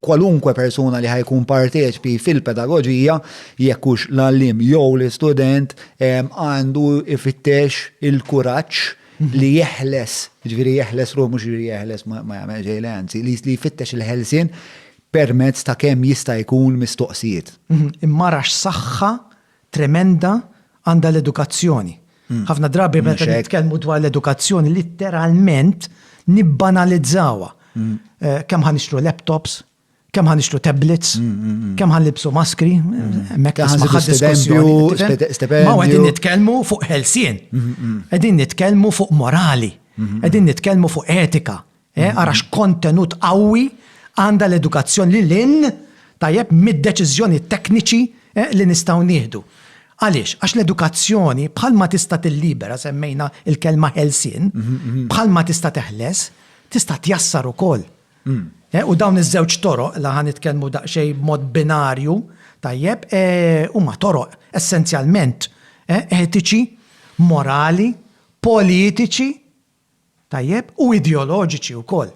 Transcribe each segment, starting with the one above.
kwalunkwe persuna li ħajkun parteċpi fil-pedagoġija, jekk hux l-għallim jew l-istudent, għandu ifittex il-kuraġġ mhm. li jeħles, ġviri jeħles ruħ mhux ġviri jeħles ma jagħmel ġejle anzi, li jfittex il-ħelsin permezz ta' kemm jista' jkun mistoqsijiet. Mhm. Imma rax saħħa tremenda għandha l-edukazzjoni. Ħafna drabi meta nitkellmu dwar l-edukazzjoni litteralment nibbanalizzawha. Kemm ħa nixtru laptops, kemm ħa nixtru tablets, kemm ħa nilbsu maskri, mekk ħa nħadd diskussjoni. Ma qegħdin nitkellmu fuq ħelsien. Qegħdin nitkellmu fuq morali. Qegħdin nitkellmu fuq etika. Eh, ara x'kontenut qawwi għandha l-edukazzjoni li lin tajjeb mid-deċiżjoni tekniċi eh, li nistgħu nieħdu. Għaliex? Għax l-edukazzjoni bħalma tista' tillibera semmejna il-kelma ħelsien, mhm, mhm. bħalma tista' teħles, tista' tjassar ukoll. Mm. Eh, u dawn iż-żewġ toroq li ħan nitkellmu daqsxejn b'mod binarju tajjeb huma toroq essenzjalment etiċi, morali, politiċi Tajjeb, u ideoloġiċi wkoll.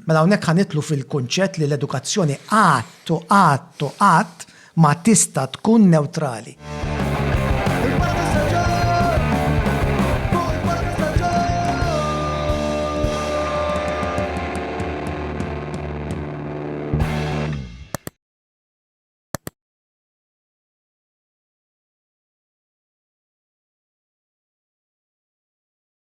Mela hawnhekk ħa nidħlu fil-kunċett li l-edukazzjoni qatt u qatt u qatt ma tista' tkun newtrali.